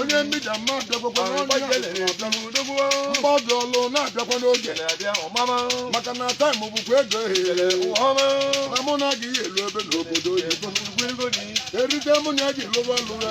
onye mmija mma bịakwakwa mgbadụ ọlụ na-abịakwa n'oge maka na time bụkwa ego ehere na mụ na gị elu ebe n'obodo oyibo erite mụ na ya ji lụwa lụwa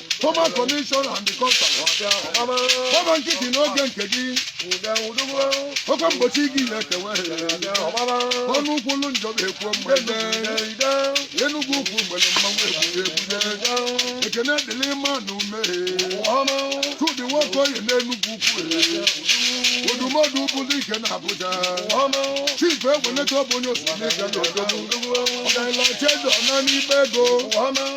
Former commission and the custom. Ọba nkịtị n'oge nke gị. Oke mgbochi gị na-ekewe. Ọnụ kwulu njọ ga-ekwu mma. Enugwu ukwu mgbede mmanwụ ebule ebule. Ekene dịrị mma na ume. Chudi Nwokoye n'Enugwu ukwu. Odumọdụ bụrụ ike na Abuja. Chief Egweneta ọ bụ onye osimiri ga n'odobo. Ọgaranya Chedọ na n'ime ego.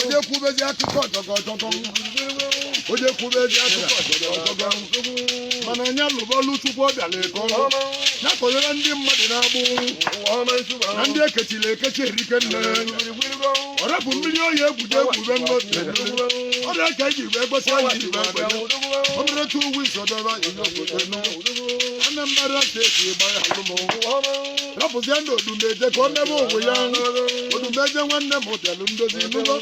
onye kwubezi akụkọ ọjọgọ ọjọgọ onye kwubezi akụkọ ọjọgọ ọjọgọ mana nya lụba ọlụ chukwu ọ bịala ego ya kọnyere ndị mmadụ n'agbụ na ndị ekechiri ekechi erike nne ọ rapụ mmiri oyi egwude egwube nnote ọ dị ka iji wee gbesi anyị ji wee gbanye ọ bụrụ two weeks ọ daba ihe obodo anambra steeti gbara alụmụ rapụzienụ odumeje ka ọ mebe onwe ya odumeje nwanne m bịalụ ndozi nụgo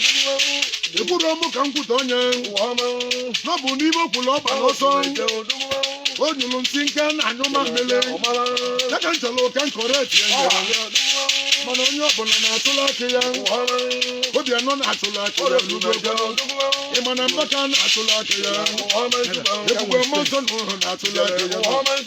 ekwurọ m ka m kwutọ onye na ọ bụ n'ime okwulu ọba n'ọsọ o nyụrụ nsị nke na anyụ mamịrị ya ka m chọrọ ka m correctie ya mana onye ọbụla na-atụla akị ya obianọ na-atụla akị ya nụgo ị ma na mbaka na-atụla akị ya ebube mmụọ nsọ n'uke na-atụla akị ya